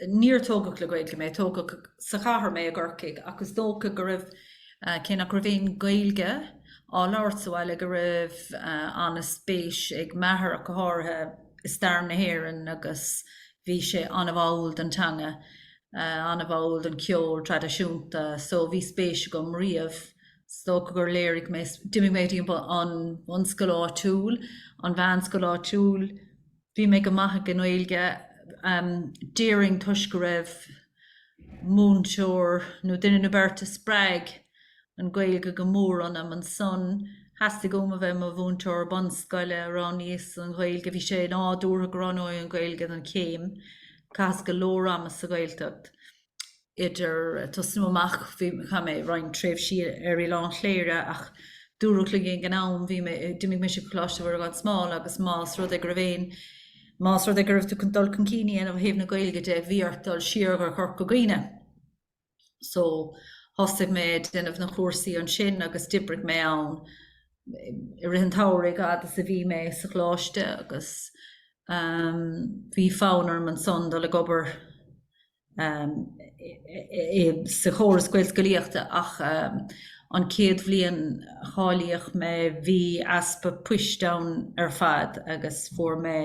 Níor tógadh le Gaeilge mé. Tógadh sa chathair mé, i gCorcaigh, ach is dócha go raibh, cé nach raibh aon Ghaeilge á labhairt sa bhaile, go raibh an-spéis ag m'athair ach go háirithe i stair na hÉireann agus bhí sé an-bháúil don teanga, an-bháúil don cheol traidisiúnta. So, bhí spéis agam riamh. Is dócha gur léirigh mé, d'imigh mé go dtí an bhunscoil áitiúil, an mheánscoil áitiúil, Bhí mé go maith ag an nGaeilge, déarfainn, toisc go raibh múinteoir nó duine nó beirt a spreag an Ghaeilge go mór ionam. Ansan, theastaigh uaim a bheith i mo mhúinteoir bunscoile. Roghnaíos an Ghaeilge. Bhí sé nádúrtha go roghnóinn an Ghaeilge don chéim. Chaitheas go leor ama sa Ghaeltacht. idir tosnú amach, bhí, chaith mé roinnt tréimhsí ar Oileán Chléire ach dúradh linn ag an am, bhí mé, d'imigh mise go Coláiste Mhuire Gan Smál agus más rud é go raibh aon, más rud é go raibh tú chun dul chun cinn a dhéanamh ó thaobh na Gaeilge de, bhí ort dul siar go Corca Dhuibhne. So, thosaigh mé ag déanamh na cúrsaí ansin agus d'oibrigh mé ann i rith an tsamhraidh a fhad is a bhí mé sa choláiste agus bhí fonn orm ansan dul ag obair sa chóras gaelscolaíochta ach an chéad bhliain a cáilíodh mé bhí easpa post ann ar fad agus fuair mé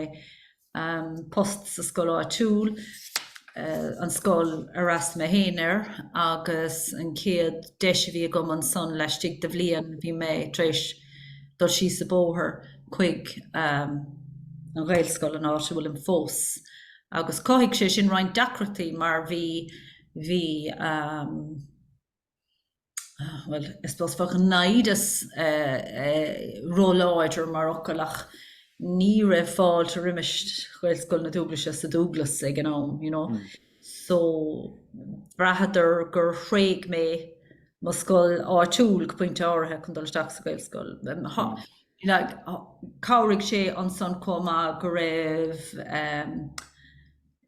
post sa scoil áitiúil, an scoil ar fhreastal mé féin air agus an chéad deis a bhí agam ansan laistigh de bhliain bhí mé tar éis dul síos an bóthar chuig an ghaelscoil an áit a bhfuilim fós. Agus chothaigh sé sin roinnt deacrachtaí mar bhí, bhí, bhuel, I suppose bheadh naimhdeas róláidir mar fhocal ach ní raibh fáilte roimis Ghaelscoil na Dúglaise sa Dúglas ag an am, you know. So bhraitheadar gur thréig mé mo scoil áitiúil go pointe áirithe chun dul isteach sa Ghaelscoil. Chabhraigh sé ansan chomh maith go raibh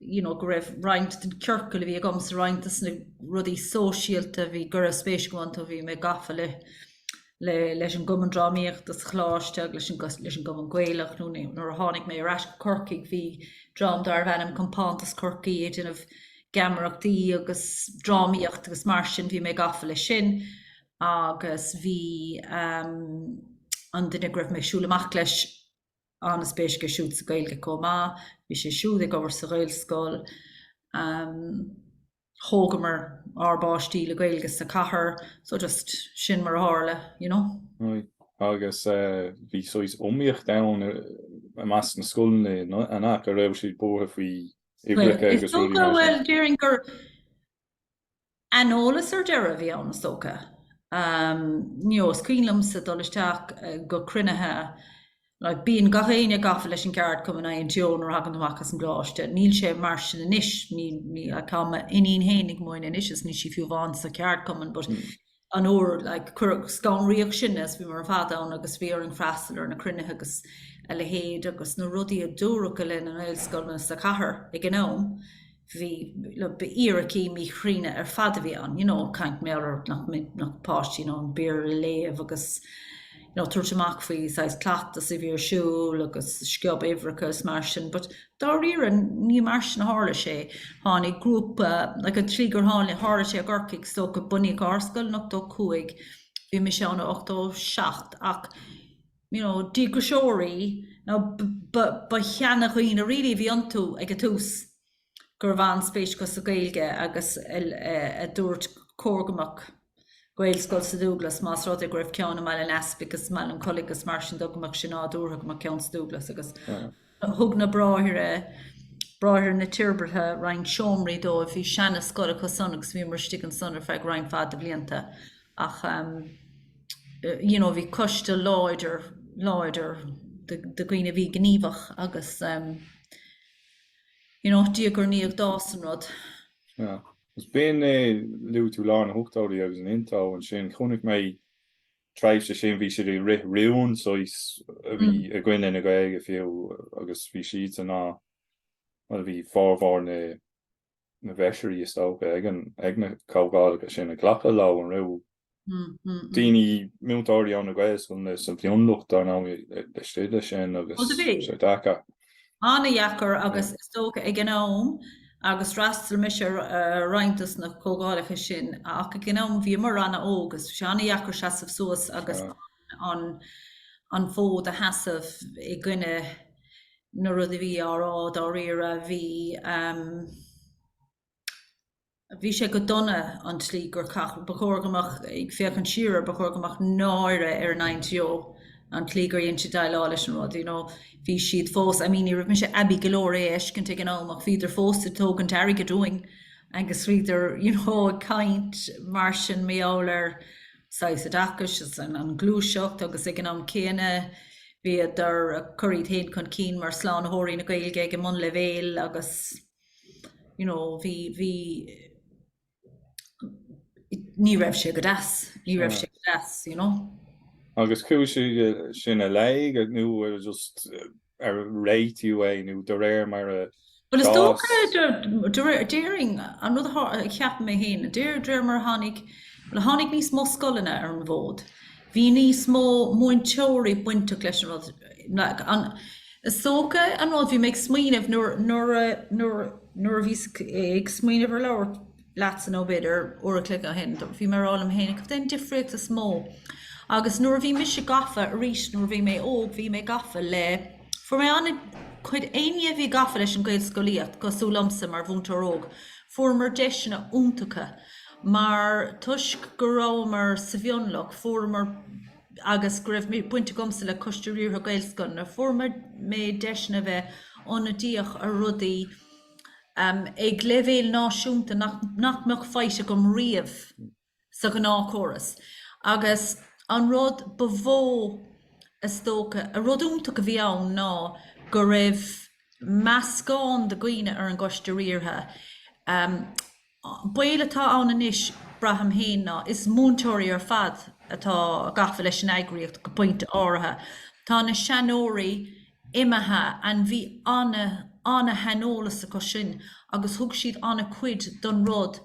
you know go raibh roinnt den ciorcal a bhí agam sa, roinnt des na rudaí sóisialta bhí go raibh spéis agam iontu bhí mé gafa le le leis an gcumann drámaíochta sa choláiste agus leis an leis an gcumann gaelach nuair a tháinig mé ar ais go Corcaigh bhí dream darbh ainm Compántas Chorcaí ag déanamh geamaireachtaí agus drámaíocht agus mar sin bhí mé gafa le sin agus bhí an duine go raibh mé ag siúl amach leis an-spéis aige siúd sa Ghaeilge chomh maith. Bhí sé siúd ag obair sa Ghaelscoil. Thógamar ár bpáistí le Gaeilge sa cathair so just sin mar a tharla, you know. Agus bhí saghas iomaíocht ann i measc na scoileanna, an ea? Go raibh siad buartha faoi uimhreacha agus rudaí mar sin. Bhuel, déarfainn gur, Aineolas ar deireadh a bhí ann, is dócha, you know. Is cuimhin liomsa dul isteach go cruinnithe, like, bíonn gach éinne gafa leis an gceardchumann INTO nuair a thagann tú amach as an gcoláiste. Níl sé mar sin anois. Ní, ní, like, tá m'iníon féin ag múineadh anois is níl sí fiú amháin sa cheardchumann but an uair, like, cuireadh, scanraíodh sinn is bhíomar ar fad ann agus bhí orainn freastal ar na cruinnithe agus a leithéid agus na rudaí a dúradh i leith na nGaelscoileanna sa chathair ag an am, bhí, like, ba fhíricí míchruinne ar fad a bhí ann, you know, caint mar gheall ar nach mbeadh páistí in ann Béarla a léamh agus, nó tabhairt amach faoi saghas cleachtas a bhí ar siúl agus sciob uimhreacha is mar sin but dáiríre ní mar sin a tharla sé, tháinig grúpa like an tslí gur tháinig, tharla sé i gCorcaigh so go, bunaíodh ár scoil in 85, bhí mise ann in 87 ach you know díograiseoirí nó ba, ba, ba sheanadhaoine really a bhí iontu ag an tús. go raibh an-spéis acu sa Ghaeilge agus a dúirt gur chóir go mbeadh Gaelscoil sa Dúglas más rud é go raibh ceann i mBaile an Easpaig agus i mBaile an Chollaigh agus mar sin de, go mbeadh sé nádúrtha go mbeadh ceann sa Dúglas agus thug na bráithre, bráithre na Toirbhirte, roinnt seomraí dóibh. Bhí seanascoil acu san agus bhíomar istigh ansan ar feadh roinnt mhaith de bhlianta ach you know bhí coiste láidir, láidir de dhaoine a bhí gníomhach agus. In áit Dia gur ní ag dás an rud. Sea. Agus b'in é luaigh tú lár na hochtóidí agus an INTO ansin. Chonaic mé tréimhse sin bhí siad ag rith rún saghas a bhí i gcoinne na Gaeilge fiú agus bhí siadsan á, bhuel bhí formhór na na bhfeisirí is dócha ag an ag na comhdhálacha sin ag glacadh leo an raibh daoine, múinteoirí óna Gaelscoileanna sa mhionlucht, dar ndóigh, ag scríobh leis sin agus sé deacair. an-dheacair agus is dócha ag an am, agus d'fhreastail mise ar roinnt dos na comhdhálacha sin, ach ag an am bhíomar ana óg agus bhí sé an-dheacair seasamh suas agus an fód a sheasamh i gcoinne na rud a bhí á rá dáiríre. Bhí. bhí sé go dona an tslí gur chaith, ba chóir go mbeadh, ag féachaint siar air, ba chóir go mbeadh náire ar an INTO an tslí gur dhein siad déileáil leis an rud, you know, bhí siad fós, I mean ní raibh mise aibí go leor é a fheiscint ag an am ach bhíodar fós ag tógaint airgid uainn agus bhíodar, you know, ag caint ansin mar gheall ar saghas oideachais agus an ghluaiseacht agus ag an am céanna bhíodar ag cur iad féin chun cinn mar shlánaitheoirí na Gaeilge ag an mbunleibhéal agus. you know, bhí, bhí, ní raibh sé go deas, ní raibh sé go deas, you know. Agus chuaigh sé sin i léig nó just ar réitiú é nó de réir mar a Well is dócha d'éirigh an rud a cheap mé héin, de réir, de réir mar tháinig le tháinig níos mó scoileanna ar an bhfód. Bhí níos mó múinteoirí bainteach leis an rud. Is dócha an rud, bhí mé ag smaoineamh nuair, nuair a, nuair, nuair a bhíos ag smaoineamh ar labhairt leatsa nó b'fhéidir uair a chloig ó shin, bhí mé ag rá liom féin, cad é an difríocht is mó? Agus nuair a bhí mise gafa, arís, nuair a bhí mé óg, bhí mé gafa le, fuair mé ana-chuid, éinne a bhí gafa leis an Ghaelscolaíocht, cosúil liomsa mar mhúinteoir óg, fuaireamar deiseanna iontacha mar, toisc go rabhamar sa mhionlach, fuaireamar, agus go raibh baint agamsa le Coiste Riartha Gaelscoileanna, fuair mé deiseanna a bheith ionadaíoch ar rudaí ag leibhéal náisiúnta nach mbeadh faighte agam riamh sa ghnáthchóras. Agus an rud ba mhó is dócha, an rud iontach a bhí ann ná go raibh meascán de dhaoine ar an gCoiste Riartha, baol atá ann anois, braithim féin, ná is múinteoirí ar fad atá gafa leis an eagraíocht, go pointe áirithe. Tá na seanóirí imithe and bhí ana, ana-shaineolas acu sin agus thug siad ana-chuid don rud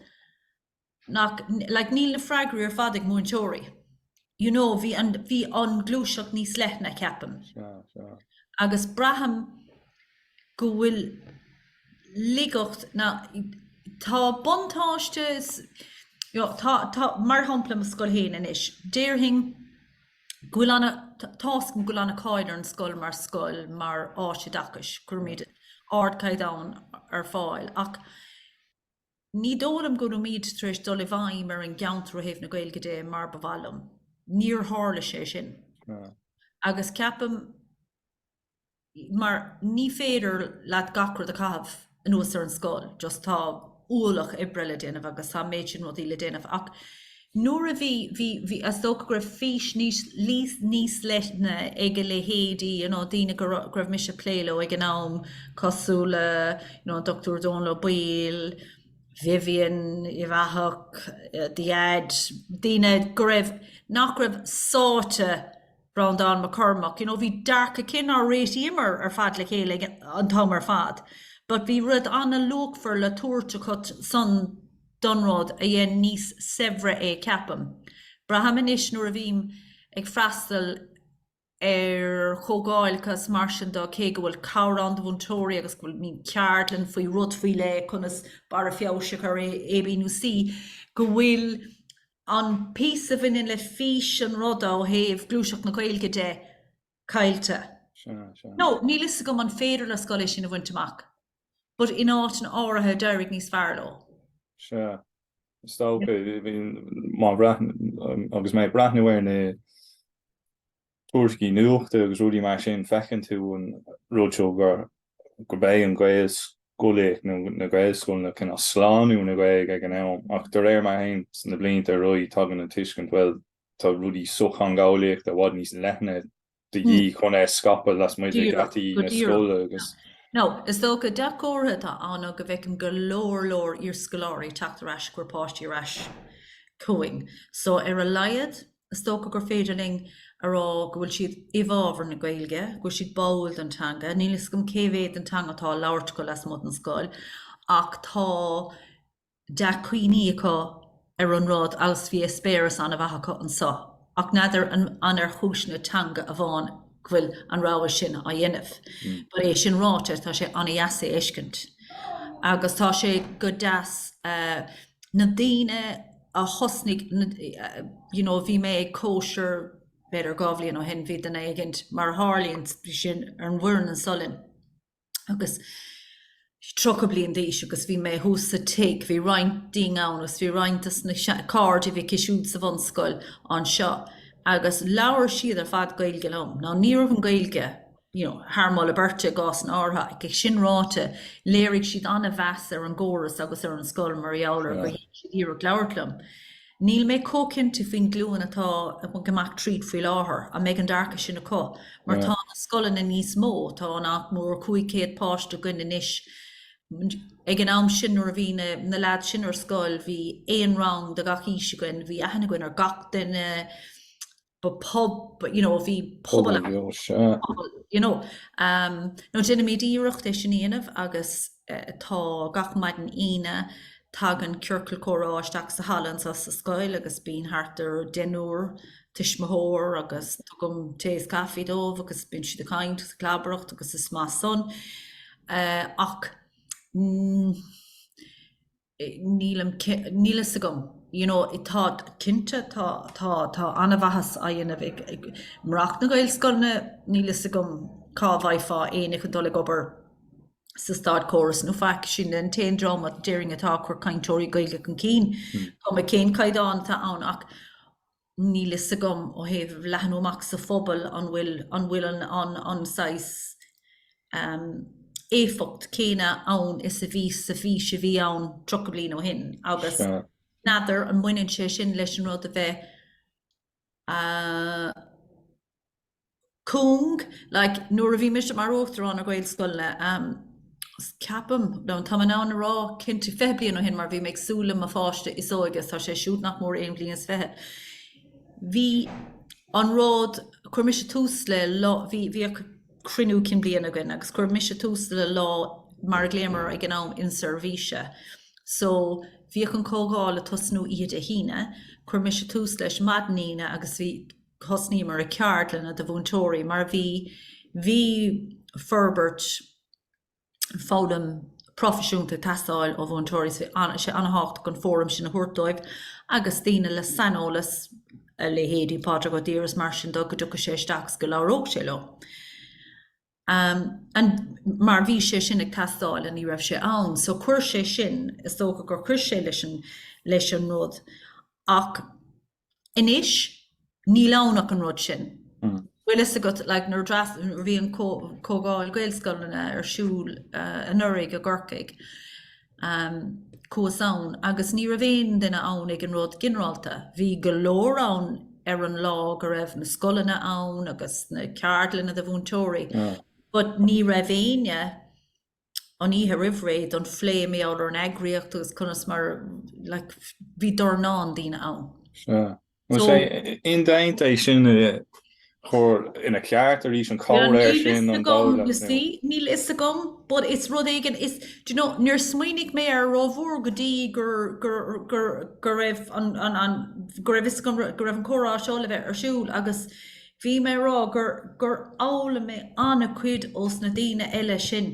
nach, like, níl na freagraí ar fad ag múinteoirí. You know, bhí an, bhí an gluaiseacht níos leithne, ceapaim. Sea, sea. Agus braithim go bhfuil laigeacht, ná, tá buntáiste, you know, tá, mar shampla i mo scoil féin anois, déarfainn go bhfuil an, tá's agam go bhfuil ana-cháil ar an scoil mar scoil, mar áit oideachais, go gcuirimid ardchaighdeán ar fáil, ach Ní dóigh liom go rabhamar tar éis dul i bhfeidhm ar an gceantar ó thaobh na Gaeilge de mar ba mhaith liom. Níor tharla sé sin. Agus ceapaim, mar ní féidir leat gach rud a chaitheamh anuas ar an scoil, just tá ualach oibre le déanamh agus tá an méid sin rudaí le déanamh. Ach Nuair a bhí, bhí, bhí, is dócha go raibh fís níos, níos leithne ag a leithéidí, you know, daoine go raibh, go raibh mise ag plé leo ag an am, cosúil le, you know, an Dr. Dónall Ó Baoill, Vivian Uíbh Eachach, The Fhead, daoine go raibh, nach raibh sáite, Breandán Mac Cormaic, you know, bhí dearcadh cinn nár réitíomar ar fad le chéile an t-am ar fad but bhí rud an-luachmhar le tabhairt acu san, don rud a dhein níos saibhre é, ceapaim. Braithim anois nuair a bhím ag freastal ar chomhdháil is mar sin dó, cé go bhfuil cabhair ann do mhúinteoirí agus go bhfuil, mbíonn ceardlann faoi rud faoi leith, conas barra feabhais a chur ar A, B nó C, go bhfuil an píosa a bhaineann le fís an ruda ó thaobh gluaiseacht na Gaeilge de, caillte. Nó, níl a fhios agam an féidir le scoil é sin a bhaint amach, but in áiteanna áirithe d'éirigh níos fearr leo. Sea, is dócha, má, agus mé ag breathnú ar na tuairiscí nuachta agus rudaí mar sin, feiceann tú an rud seo gur gurb é an Gaelscolaíocht nó na Gaelscoileanna cineál slánú na Gaeilge ag an am. Ach de réir mar a théann na blianta ar aghaidh, tagann an tuiscint, bhuel, tá rudaí sochtheangeolaíochta i bhfad níos leithne de dhíth chun é a scaipeadh lasmuigh de gheataí na scoile agus. Nó, is dócha, dea-chomhartha atá ann ná go bhfeicim go leor leor iarscoláirí teacht ar ais ag cur páistí ar ais chugainn. So, ar a laghad, is dócha gur féidir linn a rá go bhfuil siad i bhfabhar na Gaeilge, go bhfuil siad báúil don teanga. Níl a fhios agam cé mhéad den teanga atá á labhairt acu lasmuigh den scoil ach tá dea-chuimhní acu ar an rud agus bhí eispéireas an-mhaith acu anseo, ach n'fheadar an ar chúiseanna teanga amháin go bhfuil an rogha sin á dhéanamh. But é sin ráite, tá sé an-dheas é a fheiscint agus tá sé go deas na daoine a thosnaigh, you know, bhí mé ag cóisir b'fhéidir dhá bhliain ó shin, bhí duine éigin, mar a tharlaíonn sin, ar an bhfoireann anseo linn. agus 30 bliain d'aois agus bhí mé thuas sa tigh, bhí roinnt dínn ann agus bhí roinnt dos na cairde a bhí aici siúd sa bhunscoil anseo agus labhair siad ar fad Gaeilge liom. Now ní raibh an Ghaeilge you know thar moladh beirte i gcásanna áirithe ach é sin ráite léirigh siad an-mheas ar an gcóras agus ar an scoil mar gheall ar gur dhein siad iarracht labhairt liom. Níl mé chomh cinnte faoin glúin atá ag imeacht tríd faoi láthair, an mbeidh an dearcadh sin acu, mar tá na scoileanna níos mó, tá nach mór 500 páiste againn anois, ag an am sin nuair a bhí na lads sin ar scoil bhí aon rang de gach aois againn, bhí aithne againn ar gach duine. Ba pub, you know, bhí pobal ann. Pobal bheo, sea. Pobal, you know. Um, nó déanaimid iarracht é sin a dhéanamh agus uh, tá gach maidin Aoine tagann ciorcal comhrá isteach sa halla anso sa scoil agus bíonn thart ar deichniúr tuismitheoir agus tugaim tae is caife dóibh agus bíonn siad ag caint agus ag clabaireacht agus is maith san. Uh, ach, mm, nílim, níl fhios agam, you know, tá, cinnte, tá, tá, tá an-mhaitheas á dhéanamh ag, ag murach na Gaelscoileanna, níl fhios agam cá bhfaighfeá éinne chun dul ag obair sa státchóras nó faic, sin an t-aon dream a déarfainn atá ag cur cainteoirí Gaeilge chun cinn, chuma cén caighdeán atá ann ach, níl fhios agam ó thaobh leathnú amach sa phobal an bhfuil an bhfuil an an an saghas ehm éifeacht céanna ann is a bhí sa bhfís a bhí ann 30 bliain ó shin agus n'fheadar an mbaineann sé sin leis an rud a bheith a cúng, like nuair a bhí mise mar uachtarán ar Ghaelscoileanna, ceapaim, no tá mé in ann a rá cinnte, fiche bliain ó shin mar bhí mé ag súil le mo pháiste is óige, is tá sé siúd nach mór aon bhliain is fiche, bhí an rud, chuir mise tús le lá, bhí, bhíodh cruinniú cinn bliana againn agus chuir mise tús le lá mar a ghlaomar air ag an am inseirbhíse, so bhíodh an comhdháil ag tosnú oíche Dé hAoine, chuir mise tús leis maidin Aoine agus bhí, thosnaíomar ar cheardlanna do mhúinteoirí mar bhí bhí forbairt foghlaim proifisiúnta ag teastáil ó mhúinteoirí so bhí sé an-thábhachtach an fóram sin a thabhairt dóibh agus daoine le saineolas, a leithéidí Pádraig Ó Duibhir is mar sin de, go dtiocfadh sé isteach is go labhródh sé leo. An mar bhí sé sin ag teastáil an ní raibh sé ann. So chuir sé sin, is dócha gur chuir sé leis an, leis an rud. Ach anois, níl ann ach an rud sin. Bhfuil fhios agat, like, nuair a dreas, bhí an comhdháil Gaelscoileanna ar siúl anuraidh i gCorcaigh, chuas ann agus ní raibh aon duine ann ag an rud ginearálta. Bhí go leor ann ar an lá go raibh na scoileanna ann agus na ceardlanna do mhúinteoirí but ní raibh éinne an oíche roimh ré don phlé mé ar an eagraíocht agus conas mar like, bhí dornán daoine ann. Bhuel, an bhfuil sé indéanta é sin a chur ina cheart arís, an comhréir sin, an dul le. Níl a fhios agam, you see, níl a fhios agam, but is rud éigin, is, do you know, níor smaoinigh mé air rómhór go dtí gur, gur, gur, go raibh an, an, an, go raibh a fhios agam go raibh an comhrá seo le bheith ar siúl agus bhí mé a rá gur, gur fhoghlaim mé an-chuid ós na daoine eile sin.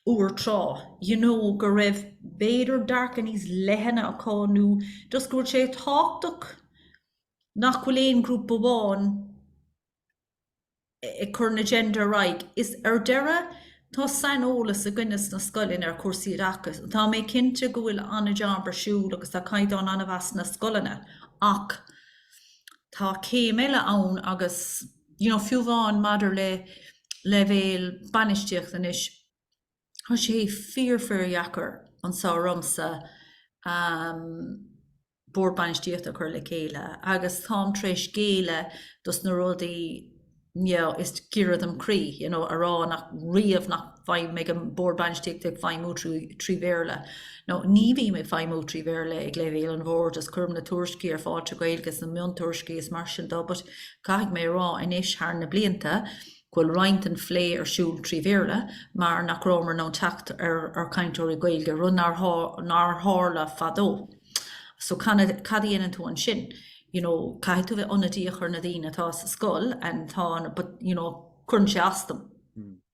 uair tráth, you know, go raibh b'fhéidir dearcadh níos leithne acu nó just go bhfuil sé tábhachtach nach bhfuil aon ghrúpa amháin ag cur an agenda ar aghaidh. Mar ar deireadh, tá saineolas againne sna scoileanna ar chúrsaí oideachais. Tá mé cinnte go bhfuil an-jab ar siúl agus tá caighdeán an-mhaith sna scoileanna ach tá céim eile ann agus, you know, fiú amháin maidir le leibhéal bainistíocht anois, tá sé fíor, fíor dheacair anso ormsa Bord Bainistíochta a chur le chéile agus táim tar éis géilleadh dos na rudaí, you know, is giorra dom croí, you know, a rá nach riamh nach. bheadh an Bord Bainistíochta ag feidhmiú trí Bhéarla now ní bhím ag feidhmiú trí Bhéarla ag leibhéal an Bhoird is cuirim na tuairiscí ar fáil trí Ghaeilge agus na miontuairiscí is mar sin dó but caithfidh mé a rá anois thar na blianta go bhfuil roinnt den phlé ar siúl trí Bhéarla mar nach rabhamar in ann teacht ar chainteoirí Gaeilge, rud nár tharla fadó so cad a dhéanann tú ansin you know caithfidh tú bheith ionadaíoch ar na daoine atá sa scoil and tá an but you know cuireann sé as dom.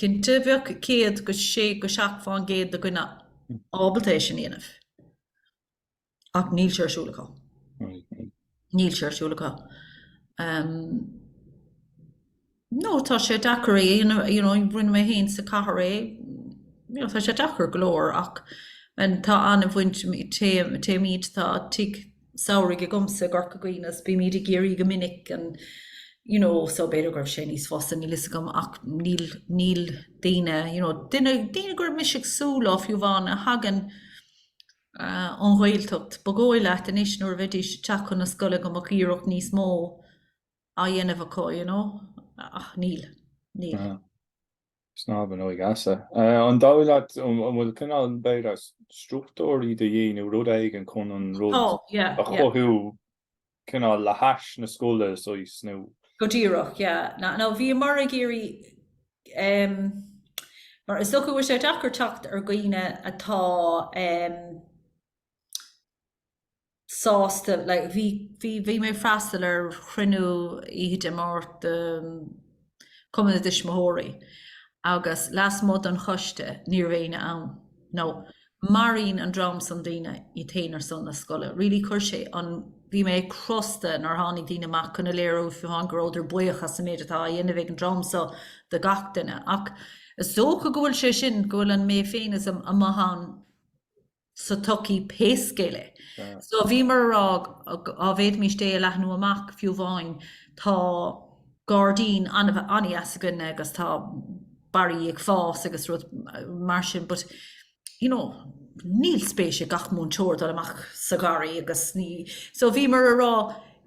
Cinnte, bheadh 106-7% de dhaoine ábalta é sin a dhéanamh. Ach níl sé ar siúl acu. Níl sé ar siúl acu. No, tá sé deacair é, you know, you know, rinne mé féin sa chathair é, you know, tá sé deacair go leor ach tá an-bhaint, téim, téimid, tá tigh, samhraidh agamsa i gCorca Dhuibhne so bímid i gCiarraí go minic and you know so b'fhéidir go raibh sé níos fusa, níl 'fhios agam ach níl, níl daoine you know, duine, daoine go raibh mise ag súil leo fiú amháin a thagann eh, ón Ghaeltacht, ba dhóigh leat anois nuair a bheidís ag teacht chun na scoile go mbeadh iarracht níos mó á dhéanamh acu you know ach níl, níl. Snámh in óig easa. An dóigh leat an bhfuil cineál b'fhéidir struchtúirí do dhíth nó rud éigin chun an rud a chothú cineál le hais na scoile is ois nó? Go díreach, yeah. Na, no, bhíomar ag iarraidh em, mar is dócha go bhfuil sé deacair teacht ar dhaoine atá em, sásta. Bhí mé ag freastal ar chruinniú oíche Dé Máirt de Chumann na dTuismitheoirí agus lasmuigh den choiste ní raibh éinne ann. Now maraíonn an dream san daoine iad féin ar son na scoile. Really chuir sé an, bhí mé crosta nár tháinig daoine amach chun a léiriú fiú amháin go rabhadar buíoch as an méid atá á dhéanamh ag an dream seo do gach duine. Ach is dócha go bhfuil sé sin, go bhfuil an mé féineachas amuigh ann. sa tsochaí pé scéal é. So bhíomar a rá dá bhféadfaimís é a leathnú amach fiú amháin tá gairdín an-dheas againn agus tá barraí ag fás agus rud mar sin but you know níl spéis ag gach múinteoir dul amach sa gharraí agus ní so bhíomar a rá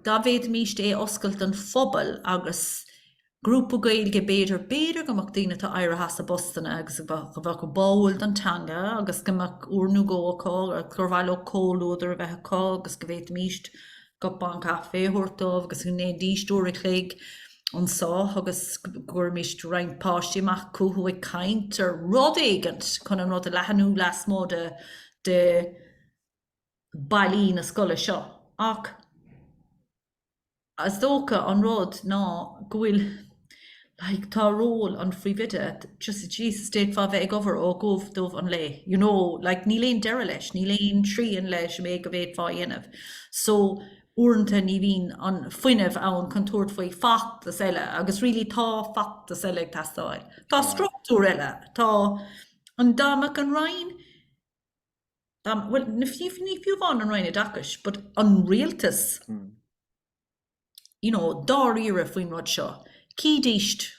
dá bhféadfaimís é a oscailt don phobal agus Grúpa Gaeilge b'fhéidir, b'fhéidir go mbeadh daoine atá éirithe as a bpostanna agus go bhfuil, go bhfuil báúil don teanga agus go mbeadh uair nó dhó acu agus gur mhaith leo comhluadar a bheith acu agus go bhféadfaimís cupán caife a thabhairt dóibh agus go ndéanfaidís uair a chloig anso agus go gcuirimís roinnt páistí amach chucu ag caint ar rud éigint chun an rud a leathnú lasmuigh de, de bhallaí na scoile seo. Ach. Is dócha an rud ná go bhfuil, like, tá ról an Phríomhoide, just Jesus, d'fhéadfá bheith ag obair ó dhubh go dubh an lae, you know, like, níl aon deireadh leis, níl aon teorainn leis an méid go bhféadfá a dhéanamh. So, uaireanta ní bhíonn an fuinneamh ann chun tabhairt faoi feachtas eile agus really tá feachtas eile ag teastáil. Tá struchtúr eile, tá an, dá mbeadh an Roinn, bhuel, ní fiú amháin an Roinn Oideachais, but an rialtas, you know, dáiríre faoin rud seo. Chífidís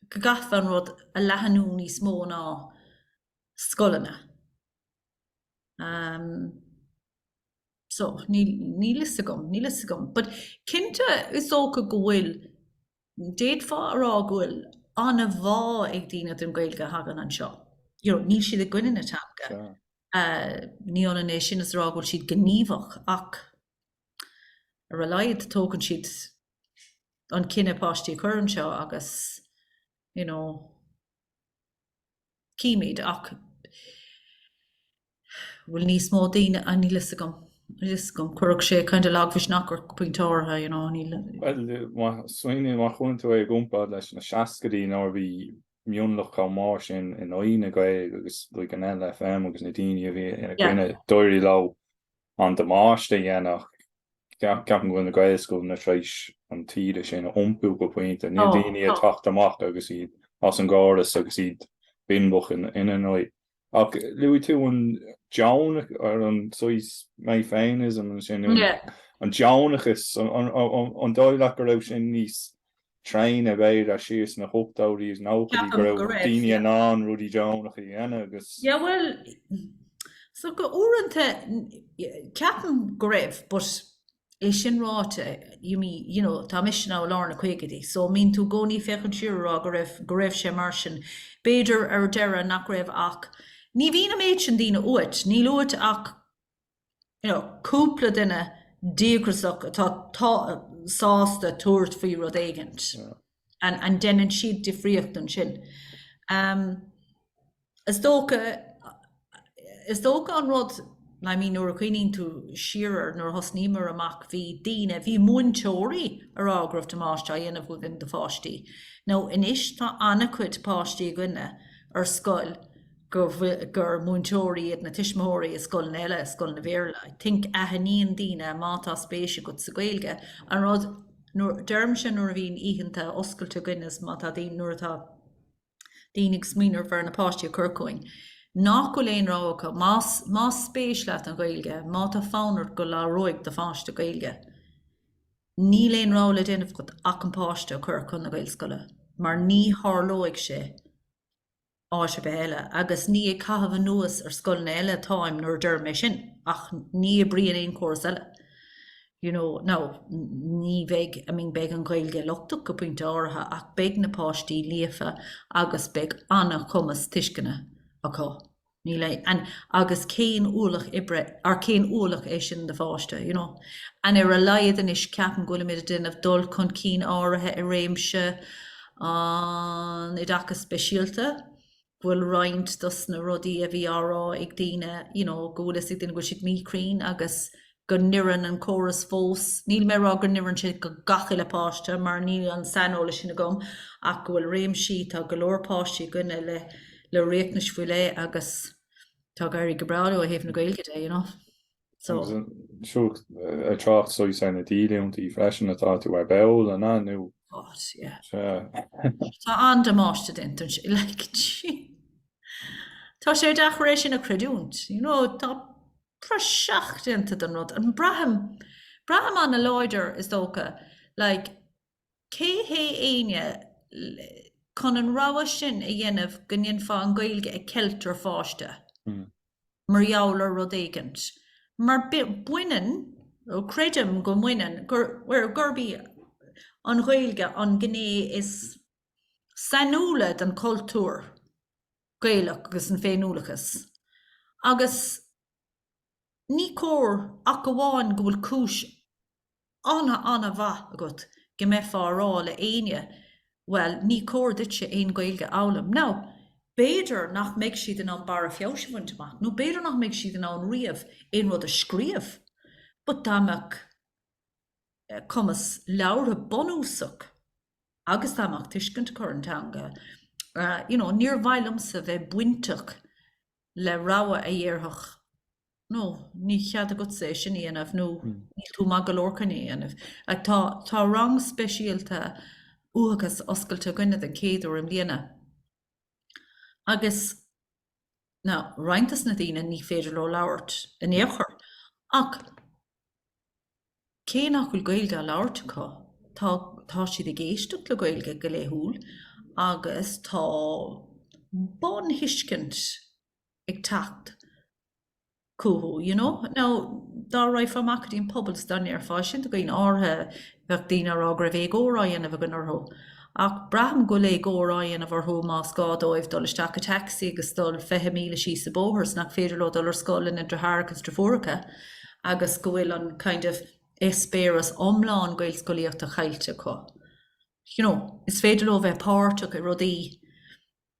go gcaithfeá an rud a leathnú níos mó ná scoileanna. So, níl fhios agam, níl fhios agam. But cinnte is dócha go bhfuil D'fhéadfá a rá go bhfuil an-bhá ag daoine don Ghaeilge a thagann anseo. You know, níl siad i gcoinne na teanga. Ní hionann é sin is a rá go bhfuil siad gníomhach ach ar a laghad tógann siad an cinneadh páistí a chur anseo agus, you know, Chímid, ach bhfuil níos mó daoine, níl fhios agam, níl fhios agam, chuirfeadh sé kind of lagmhisneach ort go pointe áirithe, you know, níl. Bhuel, má smaoiníonn, má chuireann tú é i gcomparáid leis na seascaidí nuair a bhí mionlach chomh mór san in aghaidh na Gaeilge agus like an LFM agus na daoine a bhí ina coinne, d'éirigh leo an damáiste a dhéanamh. Ceapaim go bhfuil na Gaelscoileanna tar éis an taoide sin a iompú go pointe, níl daoine ag teacht amach agus iad as an gcóras agus iad binbeach ina haghaidh. Ach luaigh tú an deonach ar an saghas mé féineachas ansin, an deonachas, an dóigh leat go raibh sin níos tréine b'fhéidir siar sna hochtóidí is nóchaidí, go raibh daoine in ann rudaí deonacha a dhéanamh agus. Yeah bhuel, so uaireanta ceapaim go raibh but é sin ráite, I mean, you know, tá mise now i lár na caogaidí so mbíonn tú i gcónaí ag féachaint siar ag rá go raibh, go raibh sé mar sin. B'fhéidir ar deireadh nach raibh ach ní bhíonn an méid sin daoine uait, níl uait ach you know, cúpla duine díograsach atá sásta tabhairt faoi rud éigint and, and deineann siad difríocht ansin. Um, is dócha, is dócha an rud, I mean, nuair a chuimhníonn tú siar, er, nuair a thosnaíomar amach, bhí daoine, bhí múinteoirí ag rá go raibh damáiste á dhéanamh againn do pháistí. Now anois tá an-chuid páistí againne ar scoil, gur múinteoirí iad na tuismitheoirí i scoileanna eile, scoileanna Béarla. I think aithníonn daoine má tá spéis agat sa Ghaeilge, an rud, deirimse nuair a bhíonn oícheanta oscailte againn is má tá daoine, nuair atá daoine ag smaoineamh ar ábhar na páistí a chur chugainn, nach bhfuil aon rogha acu, más, más spéis leat an Ghaeilge, má tá fonn ort go labhróidh do pháiste Gaeilge, níl aon rogha le déanamh agat ach an páiste a chur chun na Gaelscoile mar ní tharlóidh sé. áit ar bith eile, agus ní ag caitheamh anuas ar scoileanna eile atáim nuair a deirim é sin, ach ní oibríonn aon chóras eile, you know. Now, ní bheidh, I mean, beidh an Ghaeilge lochtach go pointe áirithe, ach beidh na páistí líofa agus beidh an-chumas tuisceana acu, níl aon, and, agus cén ualach oibre, or cén ualach é sin do pháiste, you know. And ar a laghad anois, ceapaim go bhfuilimid ag déanamh dul chun cinn áirithe i réimse, an oideachais speisialta, go bhfuil roinnt dos na rudaí a bhí á rá ag daoine, you know, go bhfuil a fhios ag daoine go bhfuil siad míchruinn agus go n-oireann an córas fós, níl mé ag rá go n-oireann sé do gach uile páiste mar níl an saineolas sin agam ach go bhfuil réimsí, tá go leor páistí againne le, le riachtanais faoi leith agus tá ag éirí go breá leo ó thaobh na Gaeilge de, you know. ag trácht is dócha ar na díolúintí freisin atá tú ar ball ansin nó. Tá an-damáiste déanta ansin. Tá sé deacair é sin a chreidiúint. Tá praiseach déanta den rud. Braithim an-láidir, is dócha, Cé hé éinne chun an rogha sin a dhéanamh go ndéanfá an Ghaeilge a cheilt ar pháiste mar gheall ar rud éigint? Mar baineann, ó creidim go mbaineann, gurb í an Ghaeilge an ghné is sainiúla den chultúr Gaelach agus den féiniúlachas. Agus Ní cóir ach amháin go bhfuil cúis an-an-mhaith agat go mbeifeá a rá le éinne bhuel ní cóir duitse aon Gaeilge a fhoghlaim nó b'fhéidir nach mbeidh siad in ann barra feabhais a bhaint amach nó b'fhéidir nach mbeidh siad in ann riamh aon rud a scríobh but dá mbeadh cumas labhartha bunúsach agus dá mbeadh tuiscint acu ar an teanga you know níor mhaith liomsa bheith bainteach le rogha a dhéarfadh no, níl cead agatsa é sin a dhéanamh nó níl tú maith go leor chun é a dhéanamh. Tá tá rang speisialta uathachas oscailte againne den chéad uair i mbliana agus na roinnt des na daoine ní féidir leo labhairt in aon chor ach, Cé nach bhfuil Gaeilge á labhairt acu, tá tá siad ag éisteacht le Gaeilge go laethúil agus tá bun-thuiscint ag teacht chucu, you know. Now, dá raghfá amach go dtí an pobal is dá ndéarfá, sin do dhaoine áirithe bheadh daoine ag rá go raibh éagóir á dhéanamh againn orthu. Ach braithim go bhfuil éagóir á dhéanamh orthu más gá dóibh dul isteach i dtacsaí agus dul fiche míle síos an bóthar is nach féidir leo dul ar scoil lena ndeartháireacha is deirfiúracha agus go bhfuil an kind of eispéireas iomlán gaelscolaíochta caillte acu. You know, is féidir leo bheith páirteach i rudaí.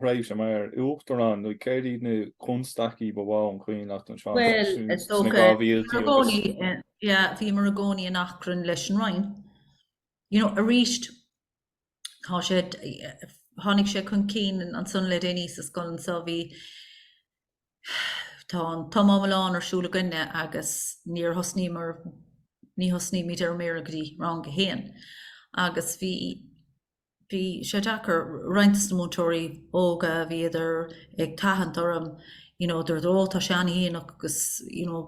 thréimhse mar Uachtarán nó céard iad na constaicí ba mhó an cuimhin leat anseo sna dhá mhílte agus. Bhuel, bhíomar i gcónaí in achrann leis an Roinn. You know, arís, tá sé, tháinig sé chun cinn ansan le déanaí sa scoil anseo, bhí, tá an tumadh iomlán ar siúl againne agus níor thosnaíomar, ní thosnaímid ar an mBéarla go dtí rang a haon. Agus bhí, Bhí sé deacair, roinnt des na múinteoirí óga, bhíodar ag tathant orm, you know, dúirt, ó, tá sé an-dhéanach agus, you know,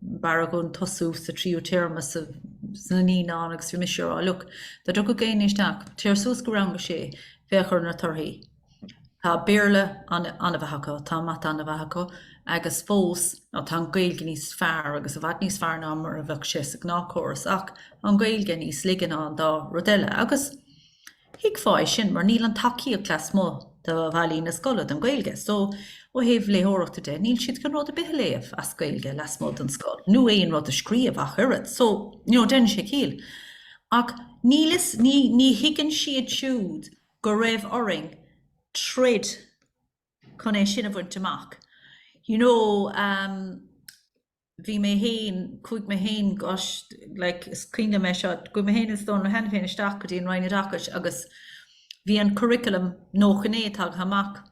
b'fhearr againn tosú sa tríú téarma sa, sna naíonáin agus bhí mise a' rá, look, dá dtiocfadh éinne isteach, téir suas go rang a sé, féach ar na torthaí. Tá Béarla an-mhaith acu, tá Mata an-mhaith acu agus fós tá an Ghaeilge níos fearr agus i bhfad níos fearr ná mar a bheadh sé sa ghnáthchóras ach tá an Ghaeilge níos laige ná an dá rud eile agus thuigfeá é sin mar níl an tacaíocht lasmuigh de bhallaí na scoile don Ghaeilge. So, ó thaobh léitheoireachta de, níl siad chun rud ar bith a léamh as Gaeilge lasmuigh den scoil, nó aon rud a scríobh ach oiread. So, you know, déanann sé ciall. Ach níl, ní thuigeann siad siúd go raibh orainn troid chun é sin a bhaint amach. You know, bhí mé féin, chuaigh mé féin, gosh, like, is cuimhin liom é seo, chuaigh mé féin is Dónal Ó hAiniféin isteach go dtí an Roinn Oideachais agus bhí an curriculum 99 tagtha amach.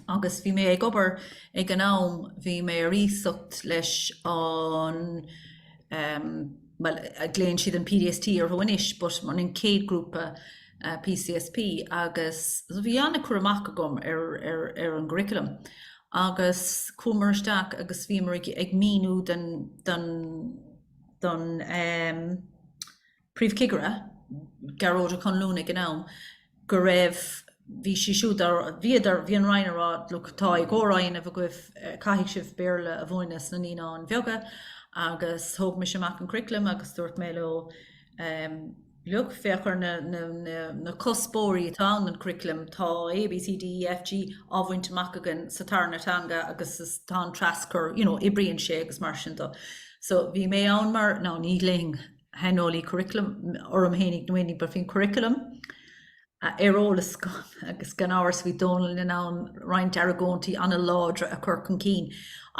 Agus bhí mé ag obair ag an am, bhí mé ar iasacht leis an ehm, bhuel, glaonn siad an PDST orthu anois, but an an chéad grúpa eh, PCSP agus so bhí an-chur amach agam ar, ar, ar an gcurriculum agus chuamar isteach agus bhíomar ag, ag míniú den, den, den ehm, Príomhchigire, Gearóid Ó Conluain ag an am, go raibh, bhí sí siúd á, bhíodar, bhí an Roinn a rá, look, tá éagóir á dhéanamh agaibh, caithfidh sibh Béarla a mhúineadh sna naíonáin bheaga agus thóg mise amach an curriculum agus dúirt mé leo, look, féach ar na, na, na, na cuspóirí atá ag an curriculum, tá A, B, C, D, E, F, G á bhaint amach againn sa tarna teanga agus tá an traschur, you know, oibríonn sé agus mar sin do. So bhí mé ann mar, now ní ghlaoim, shaineolaí curriculum, orm féin in aon chaoi but bhí an curriculum ar eolas agam agus gan amhras bhí Dónal in ann roinnt argóintí an-láidre a chur chun cinn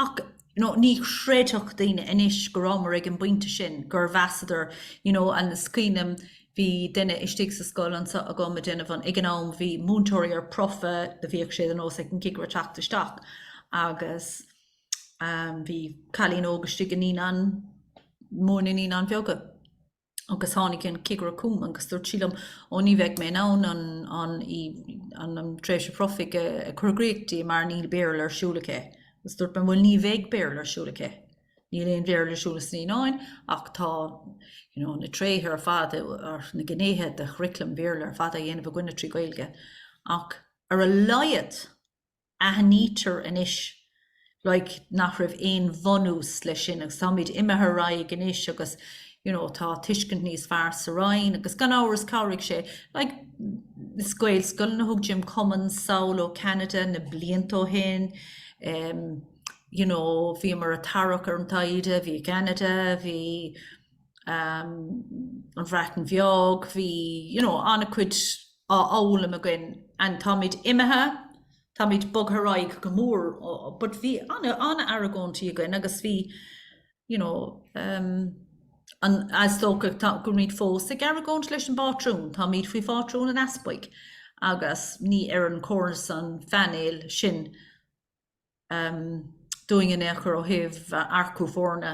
ach you know ní chreidfeadh daoine anois go rabhamar ag an bpointe sin gur mheasadar you know agus cuimhním bhí duine istigh sa scoil anseo agam ag déanamh an ag an am bhí múinteoirí ar promhadh do bhíodh sé de nós ag an gcigire teacht isteach agus Bhí cailín óg istigh i Naíonáin Mhóra nó Naíonáin Bheaga agus tháinig an cigire chugam agus dúirt sé liom, ó ní bheidh mé in ann an, an, í, an, an tréimhse phromhaidh a, a chur i gcríoch di mar níl Béarla ar siúl aici. Agus dúirt mé, bhuel ní bheidh Béarla ar siúl aici. Níl aon Bhéarla ar siúl sna Naíonáin ach tá you know, na tréithe ar fad nó na gnéithe de churriculum Béarla ar fad á dhéanamh againne trí Gaeilge. Ach ar a laghad, Aithnítear anois, like, nach raibh aon bhunús leis sin agus táimid imithe ar aghaidh anois agus, you know, tá tuiscint níos fearr sa Roinn agus gan amhras chabhraigh sé, like, is Gaelscoileanna a thug Jim Cummins anall ó Canada na blianta ó shin, em, you know, bhíomar a' tarrac ar an dtaighde, bhí Canada, bhí, em, an Bhreatain Bheag, bhí, you know, an-chuid, á fhoghlaim againn and táimid imithe, táimid bogtha ar aghaidh go mór ó, but bhí ana-argóintí againn agus bhí you know ehm an, is dócha tá, go bhfuilimid fós ag argóint leis an bpátrún, táimid faoi phátrúnacht an Easpaig agus ní oireann córas an phainéil sin ehm dúinn in aon chor ó thaobh earcú foirne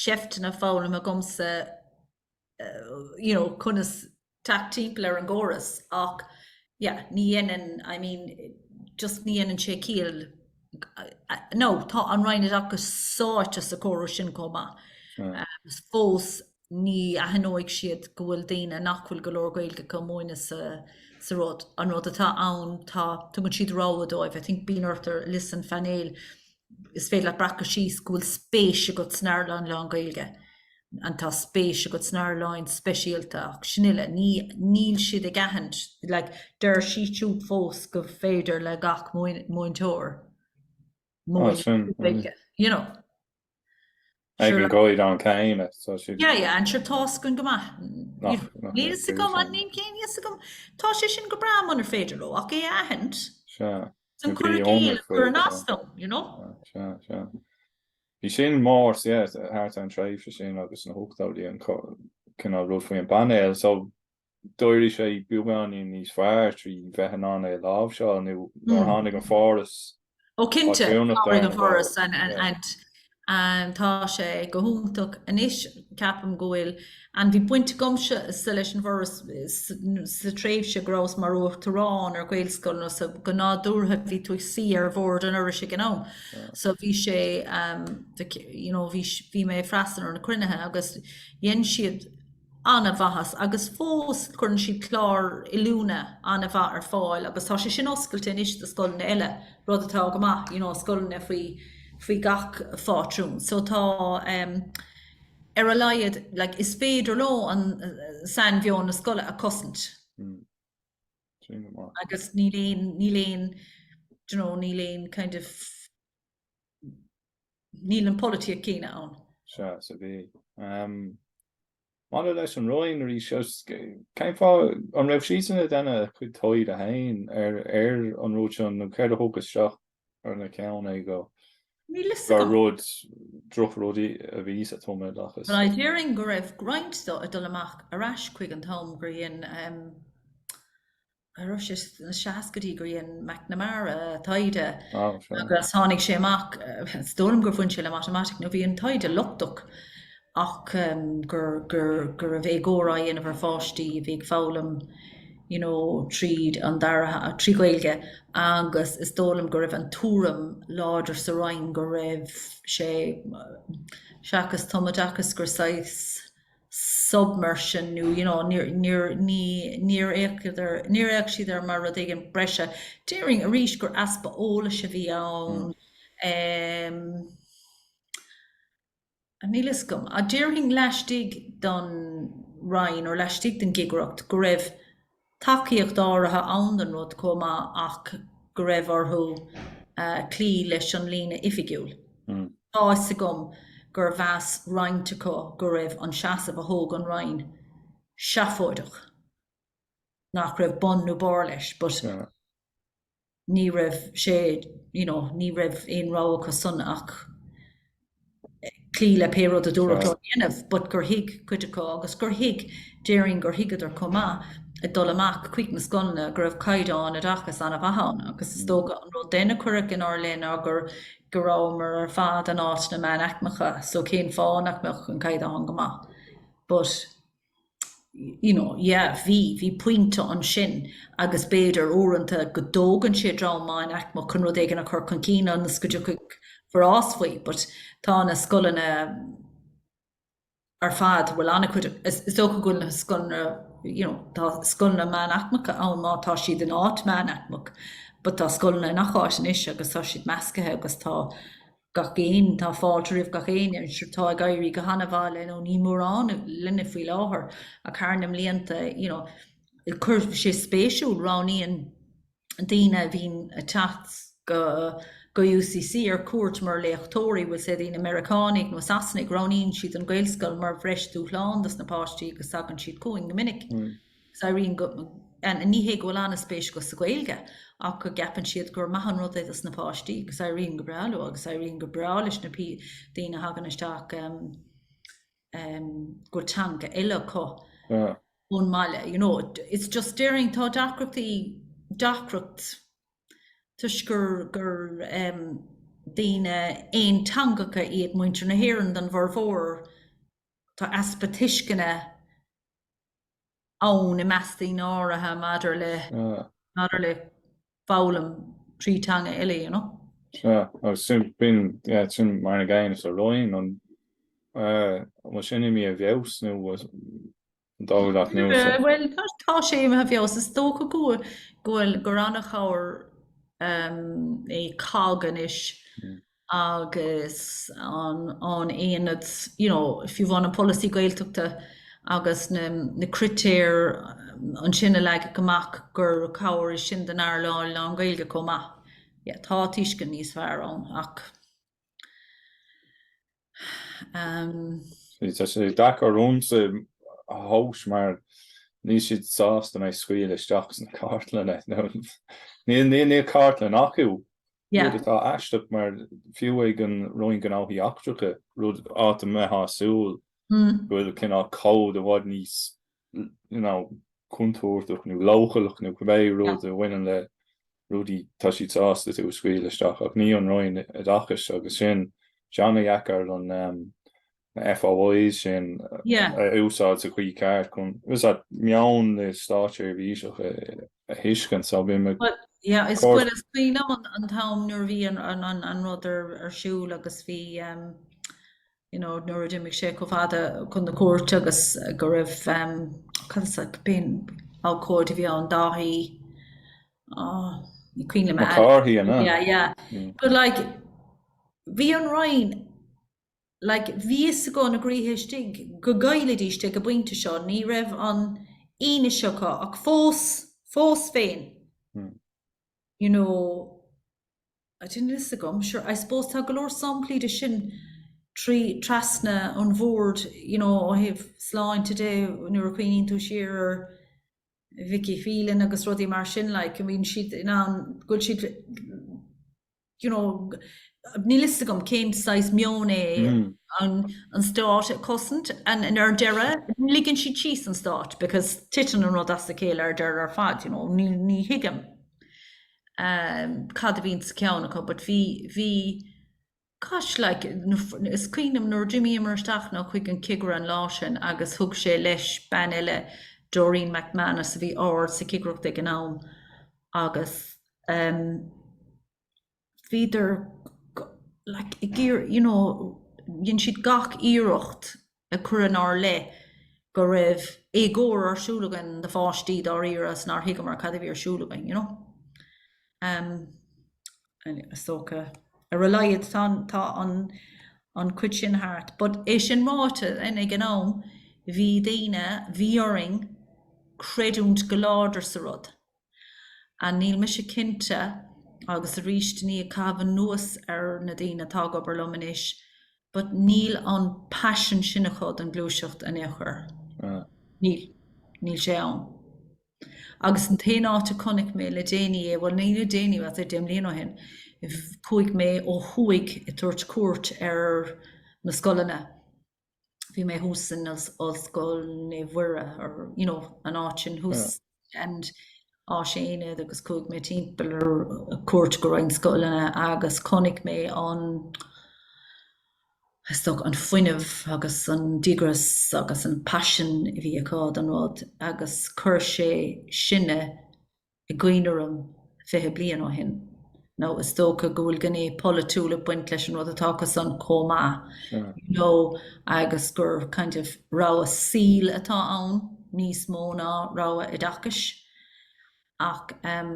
seifteanna foghlamtha agamsa you know conas teacht timpeall ar an gcóras ach yeah ní dhéanann I mean just ní dhéanann sé ciall now tá an Roinn Oideachais sáite sa córas sin chomh maith. Hmm. Um, fós ní aithneoidh siad go bhfuil daoine nach bhfuil go leor Gaeilge acu a mhúineadh sa rud. An rud atá ann, tá, tugann siad rogha dóibh, I think bíonn ort ar liosta an phainéil, is féidir leat a bhreacadh síos go bhfuil spéis agat san earnáil lán-Ghaeilge and tá spéis agat san earnáil speisialta ach sin uile. Ní, níl siad ag aithint, like deir siad fós gur féidir le gach múinteoir múineadh Gaeilge, you know. Ag an gcaighdeán céanna. Yeah, yeah, and sure tá a fhios againn go maith. Níl fhios agam, an níon céan níl fhios agam. Tá sé sin go breá munar féidir leo, ach é aithint. Sure. Sin cur i gcéill, chuir sin as dom, you know? Sure, sure. Bhí sin mór, yeah, thart an tréimhse sin agus na hochtóidí an cinál rud faoin bpainéal, so d'éirigh sé beagáinín níos fearr trí bheith in ann é a láimhseáil nó nuair a tháinig an Foras Ó cinnte, tháinig an Foras and and tá sé go hiontach anois ceapaim go bhfuil and bhí baint agamsa leis an bhForas sa tréimhse go rabhas mar uachtarán ar Ghaelscoileanna so go nádúrtha bhí tú ag suí ar bhord an Fhorais ag an am so bhí sé um, you know, bhí, bhí mé freistal ar na cruinnithe agus dhéan siad an-mhaitheas agus fós cuireann siad clár oiliúna an-mhaith ar fáil agus tá sé sin oscailte anois do scoileanna eile, rud atá go maith, you know, scoileanna faoi, faoi gach phátrún. So tá ehm ar a laghad like is féidir leo an sainmheon na scoile a chosaint. Mm. Sin go maith. Agus níl aon, níl aon, you know, níl aon kind of Níl an pholaitíocht céanna ann. Sea, so bhí. Maidir leis an Roinn arís, cén fáth an raibh sise ag déanamh a cuid taighde féin ar an rud seo nó céard a thug isteach ina ceann é gur rud droch-rudaí a bhí sa tumoideachas? Well, déarfainn go raibh roinnt dó ag dul amach ar ais chuig an t-am gur dhein ar ais sna seascaidí gur dhéan McNamara taighde agus tháinig sé amach is dóigh liom gur bhain sé le matemaitic nó bhí an taighde lochtach ach gur gur gur raibh éagóir á dhéanamh ar pháistí a bhí ag foghlaim you know, tríd an dara trí Gaeilge agus is dóigh liom go raibh an tuairim láidir sa Roinn go raibh sé seachas tumoideachas gur saghas submersion nó you know níor níor ní níor fhéachadar níor fhéach siad air mar rud éigin breise. Déarfainn arís gur easpa eolais a bhí ann ehm níl fhios agam. Ach déarfainn laistigh don Roinn nó laistigh den gcigireacht go raibh tacaíocht áirithe ann den rud chomh maith ach go raibh orthu cloí leis an líne oifigiúil. Tá fhios agam gur mheas roinnt acu go raibh an seasamh a thóg an Roinn seafóideach, nach raibh bun nó barr leis but, ní raibh sé, you know, ní raibh aon rogha acu san ach cloí le pé rud a dúradh leo dhéanamh, but gur thuig cuid acu agus gur thuig, déarfainn gur thuigeadar chomh maith ag dul amach chuig na scoileanna go raibh caighdeán oideachais an-mhaith ann agus is dócha an rud a cuireadh inár leith ná gur, go rabhamar ar fad in áiteanna meánaicmeacha so cén fáth nach mbeadh an caighdeán go maith but you know, yeah, bhí, bhí pointe ansin agus b'fhéidir uaireanta go dtógann sé dream meánaicmeach chun rud éigin a chur chun cinn ionas go dtiocfaidh forás faoi, but tá na scoileanna ar fad, bhfuil an-chuid acu, is dócha go bhfuil na scoileanna, you know, tá scoileanna meánaicmeacha ann má tá siad in áit meánaicmeach, but tá scoileanna i ngach áit anois agus tá siad meascaithe agus tá gach éinne. Tá fáilte roimh gach éinne, ar ndóigh. Tá ag éirí go han-mhaith le, nó níl mórán linne faoi láthair, ach thar na mblianta, you know, go bhfuil sé spéisiúil, roghnaíonn daoine a bhíonn ag teacht go, go UCC ar cuairt mar léachtóirí, bhfuil, sé daoine Meiriceánaigh nó Sasanaigh, roghnaíonn siad an Ghaelscoil mar bhreis dúshlán dos na páistí agus tagann siad chugainn go minic. Is éiríonn go, ní hé go bhfuil an-spéis acu sa Ghaeilge, ach go gceapann siad gur maith an rud é dos na páistí, agus éiríonn go breá leo, agus éiríonn go breá leis na pé daoine a thagann isteach em em go bhfuil teanga eile acu ón mbaile, you know, it's just déarfainn, tá deacrachtaí, deacracht toisc gur gur em daoine aonteangacha iad muintir na hÉireann den bhformhór, tá easpa tuisceana ann i measc daoine áirithe maidir le maidir le foghlaim trí teanga eile, you know. Sea, agus sin b'in, yeah, sin mar an aineolas sa Roinn, an bhfuil sin imithe i bhfeabhas nó an dóigh leat nó is é? Bhuel, tá, tá sé imithe i bhfeabhas. Is dócha go bhfuil, go bhfuil, gur an-chabhair é COGG anois. agus an aonad, you know, fiú amháin an polasaí Gaeltachta agus na critéir ansin a leagadh amach gur cabhair é sin don earnáil lán-Ghaeilge chomh maith. Yeah, tá tuiscint níos fearr ann ach, umm. Tá sé deacair domhsa a thomhas mar níl siad sásta mé a scaoileadh isteach sna cartlanna. Níl cartlann acu rud atá aisteach mar fiú ag an Roinn Gnóthaí Eachtracha, rud áit a mbeifeá ag súil go bhfuil cineál cód i bhfad níos contúirteach nó leochaileach nó cibé rud a bhaineann le rudaí, tá siad sásta tú a scaoileadh isteach. Ach ní an Roinn Oideachais agus sin tá sé ana-dheacair an na FOIs sin a úsáid sa chaoi ceart chun meon na státseirbhíseach a thuiscint, so bhí mé cóir. Yeah, is fuair is cuimhin liom an t-am nuair a bhí an rud ar siúl agus bhí, you know, nuair a d'imigh sé chomh fada chun na cúirte agus go raibh, cad is ainm, b'in abhcóide a bhí ann, Dáithí, oh, ní cuimhin liom a. McCarthy, an ea? Yeah, yeah. But like, bhí an Roinn like, bhí a fhios acu ina gcroí istigh go gcaillfidís é ag an bpointe seo, ní raibh an fhianaise acu ach fós, fós féin, you know, níl fhios agam, sure, I suppose tá go leor samplaí de sin trí, trasna an bhoird, you know, ó thaobh sláinte de, nuair a chuimhníonn tú siar ar Vicky Phelan agus rudaí mar sin, like, I mean, siad in ann, go bhfuil siad, you know, níl fhios agam cén saghas meon é an stát ag cosaint and ar deireadh ligeann siad síos an stát because titeann an rud as a chéile ar deireadh ar fad, you know, ní thuigim cad a bhíonn sa cheann acu but bhí, bhí, gosh like, is cuimhin liom nuair a d'imíomar isteach nó chuig an cigire an lá sin agus thug sé leis bean eile, Doreen McManus, a bhí ard sa chigireacht ag an am agus, bhíodar ag iarraidh, you know, dhein siad gach iarracht a chur inár leith go raibh éagóir ar siúl againn do pháistí dáiríre agus nár thuigeamar cad a bhí ar siúl againn, you know. Anyway, is dócha ar a laghad, tá an, tá an, an cuid sin thart. But é sin ráite, then, ag an am, bhí daoine, bhí orainn creidiúint go láidir sa rud. Ah, níl mise cinnte, agus arís ní ag caitheamh anuas ar na daoine atá ag obair liom anois, but níl an passion sin acu don gluaiseacht in aon chor. Níl. Níl sé ann. Agus an t-aon áit a chonaic mé le déanaí é, bhuel, ní le déanaí, bhuel, deich mbliana ó shin, chuaigh mé ó thuaidh ag tabhairt cuairt ar na scoileanna, bhí mé thuas san ollscoil Naomh Muire or you know an áit sin thuas yeah. and Áisaonad agus chuaigh mé timpeall ar cuairt go roinnt scoileanna agus chonaic mé an stoc an fuinneamh agus an díograis agus an passion a bhí acu don rud agus chuir sé sinne is cuimhin liom fiche bliain ó shin, nó is dócha go bhfuil gné pholaitiúil ag baint leis an rud atá acusan chomh maith, you know, agus gur kind of rogha saoil atá ann níos mó ná rogha oideachais. Ach, em,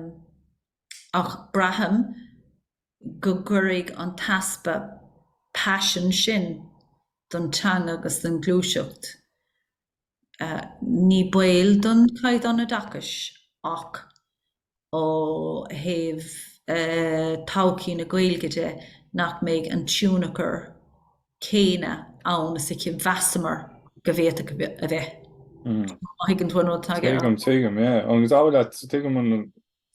ach braithim go gcuirfidh an t-easpa paisin sin don teanga agus don ghluaiseacht, Ní baol don chaighdeán oideachais ach ó thaobh todhchaí na Gaeilge de nach mbeidh an tionchar céanna ann is a mheasamar go bhféadfadh a bheith. Má thuigeann tú an rud atáim ag rá. Tuigim, tuigim, yeah. Agus an bhfuil a fhios agat, tuigim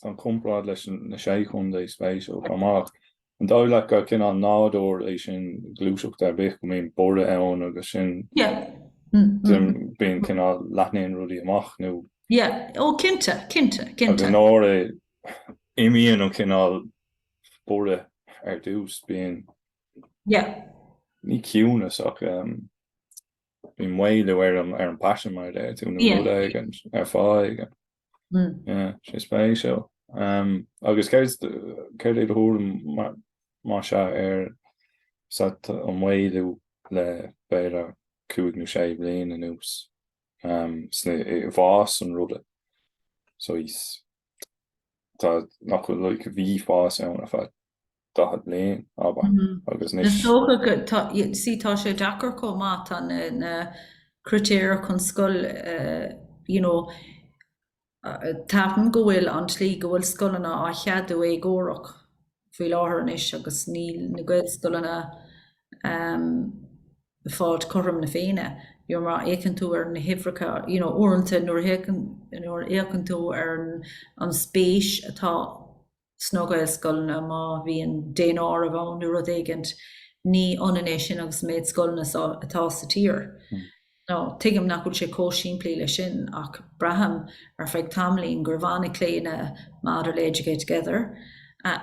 an comparáid leis na Sé Chontae, spéisiúil, chomh maith. An dóigh leat gur cineál nádúr é sin i ngluaiseacht ar bith, go mbíonn borradh ann agus sin, bíonn cineál leathnaíonn rudaí amach nó? Yeah, oh cinnte, cinnte, cinnte. Agus nuair a imíonn an cineál borradh ar dtús, bíonn, yeah, ní ciúnas ach bíonn maolú ar an bpaisean mar a deir tú nó rud éigin ar fháth éigin. sé spéisiúil. Agus céard é do thuairim más ea ar an maolú le b'fhéidir cúig nó sé bliain anuas i bhfás an ruda? Nach bhfuil bhí fás ann ar fad? 40 bliain, ábhar, agus anois. Is dócha go, sea, tá sé deacair chomh maith, tá na critéir chun scoil, you know, ceapaim go bhfuil an tslí go bhfuil scoileanna á cheadú éagórach faoi láthair anois agus níl na Gaelscoileanna ag fáilt cothrom na Féinne, you know, má fhéachann tú ar na huimhreacha, you know, uaireanta nuair a fhéachann, nuair a fhéachann tú ar an spéis atá sna Gaelscoileanna, má bhíonn daonáireamh ann nó rud éigin, ní ionann é sin agus an méid scoileanna atá sa tír. Nó, tuigim nach bhfuil sé chomh simplí leis sin, ach braithim ar feadh tamaillín go raibh an-chlaonadh maidir le Educate Together,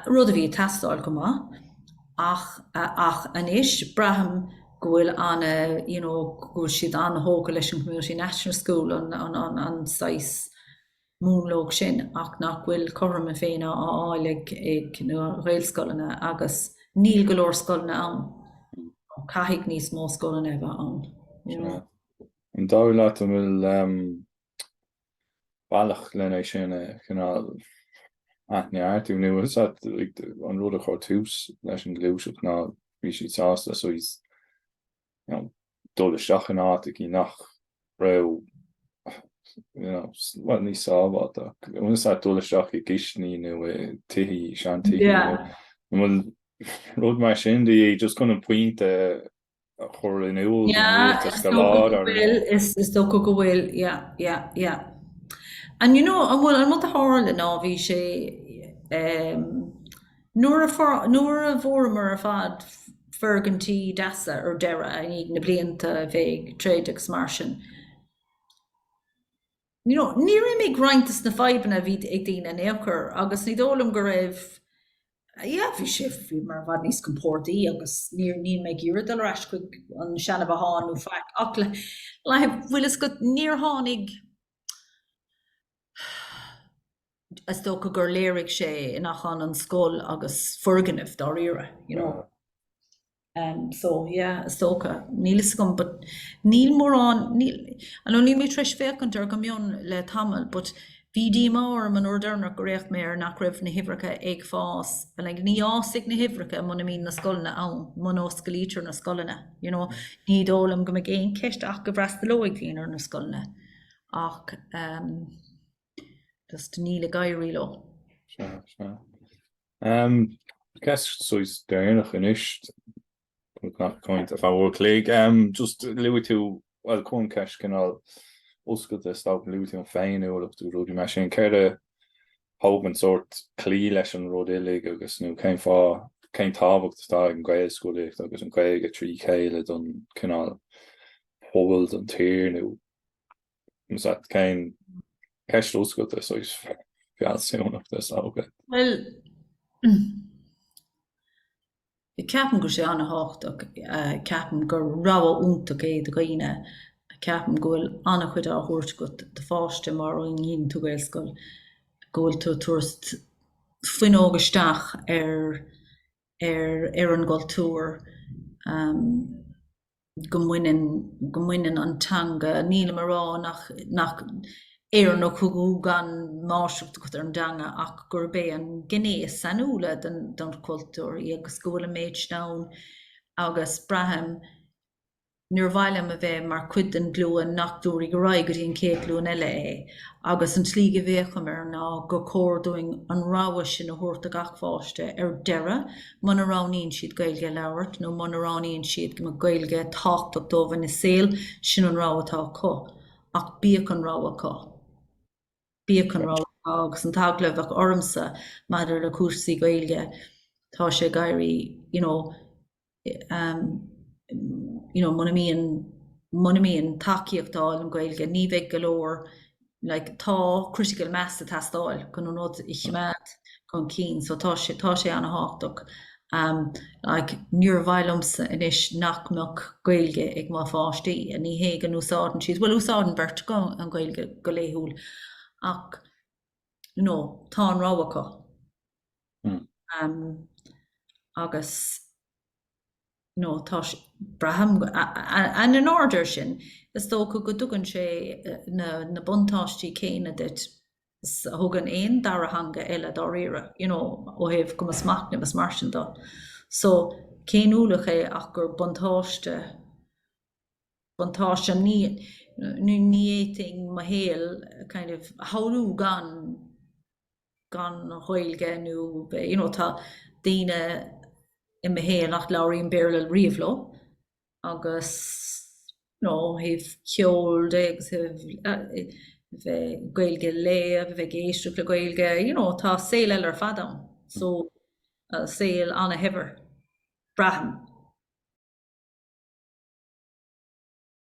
rud a bhí ag teastáil go maith, ach ach anois, braithim go bhfuil an you know go bhfuil siad an-thógtha leis an Community National School, an an an saghas, múnla úd sin ach nach bhfuil cothrom na Féinne á fháil ag na Gaelscoileanna agus níl go leor scoileanna ann. Caithfidh níos mó scoileanna a bheith ann, you know. An dóigh leat an bhfuil bealach lena sin a chineál athneartú nó an é an rud a chuir tús leis an ghluaiseacht ná bhí siad sásta saghas dul isteach in áit aici nach raibh, bhuel, níos sábháilte ach dul isteach i gcistiní nó i tithí, seantithí, bhuel, rud mar sin, just chun an pointe a chur in iúl don rialtas go láidir. Yeah, is dócha go bhfuil, is dócha go bhfuil, yeah, yeah, yeah. And you know, bhuel, an rud a tharla ná bhí sé, Nuair a fuaireamar ar fad foirgintí deasa ar deireadh, i ndiaidh na blianta a bheith ag troid agus mar sin, you know, níor imigh roinnt de na fadhbanna a bhí ag daoine in aon chor agus ní dóigh liom go raibh, yeah, bhí sé, bhíomar i bhfad níos compordaí agus níor, níl mé ag iarraidh dul ar ais chuig an seana-bhothán nó faic ach le, le, bhfuil a fhios agat, níor tháinig, is dócha gur léirigh sé nach ionann scoil agus foirgneamh dáiríre, you know. Um, so, yeah, is dócha. Níl a fhios agam, but níl mórán, níl, I know níl mé tar éis féachaint ar go mion le tamall, but bhí díomá orm an uair deireanach gur fhéach mé ar nach raibh na huimhreacha ag fás, and like, ní fhásfaidh na huimhreacha muna mbíonn na scoileanna ann, muna osclaítear na scoileanna, you know. Ní dóigh liom go mbeidh aon cheist ach go bhfreastalóidh daoine ar na scoileanna. Ach ehm just níl ag éirí leo. Sea, sea. Ehm ceist saghas deireanach anois ag caint le uair an chloig. Ehm just luaigh tú, bhuel chun ceist cineál oscailte stop, luaigh tú an féiniúlacht nó rudaí mar sin. Céard a thug ort sórt cloí leis an rud uilig agus nó cén fáth, cén tábhacht atá ag an Ghaelscolaíocht agus an Ghaeilge trí chéile don cineál pobal, don tír nó Nó cén ceist oscailte saghas fealsúnach, is dóigh? Bhuel, ceapaim go bhfuil sé an-thábhachtach. Ceapaim gur rogha iontach é do dhaoine. Ceapaim go bhfuil an-chuid á thabhairt agat do pháiste mar fhonn a dhíonann tú Gaelscoil, go bhfuil tú ag tabhairt fuinneog isteach ar ar ar an gcultúr. go mbaineann, go mbaineann an teanga, nílim a rá nach, nach Éireannach thú gan máistreacht agat ar an dteanga ach gurb é an gné is sainiúla den, den chultúr í agus go bhfuil an méid sin ann agus braithim níor mhaith liom a bheith mar chuid den ghlúin nach dtabharfaidh ar aghaidh go dtí an chéad ghlúin eile é agus an tslí go bhféachaim air ná gur chóir dúinn an rogha sin a thabhairt do gach pháiste ar deireadh muna roghnaíonn siad Gaeilge a labhairt nó muna roghnaíonn siad go mbeadh Gaeilge tábhachtach dóibh ina saol, sin an rogha atá acu. Ach bíodh an rogha acu. Bíodh an rogha acu. Agus an t-eagla a bheadh ormsa maidir le cúrsaí Gaeilge, tá sé ag éirí, you know, em, you know, muna mbíonn, muna mbíonn tacaíocht ar fáil don Ghaeilge, ní bheidh go leor, like tá critical mass ag teastáil chun an rud a choimeád chun cinn so tá sé tá sé an-thábhachtach um like níor mhaith liomsa anois nach mbeadh Gaeilge ag mo pháistí and ní hé go n-úsáideann siad bhuel úsáideann beirt acu an Ghaeilge go laethúil ach you know tá an rogha acu hmm. um, agus nó tá sé, braithim, ar an ábhar sin, is dócha go dtugann sé na na buntáistí céanna duit 's a thugann aon dara theanga eile dáiríre, you know, ó thaobh cumas machnaimh 's mar sin de. So, ní haon ualach é ach gur buntáiste, buntáiste, ní, ní fhéadfainn mo shaol kind of a shamhlú gan, gan Ghaeilge nó you know tá daoine i mo shaol nach labhraím Béarla riamh leo agus you know ó thaobh ceoil de agus ó thaobh bheith Gaeilge a léamh, a bheith ag éisteacht le Gaeilge, you know tá saol eile ar fad ann. So saol an-shaibhir, braithim.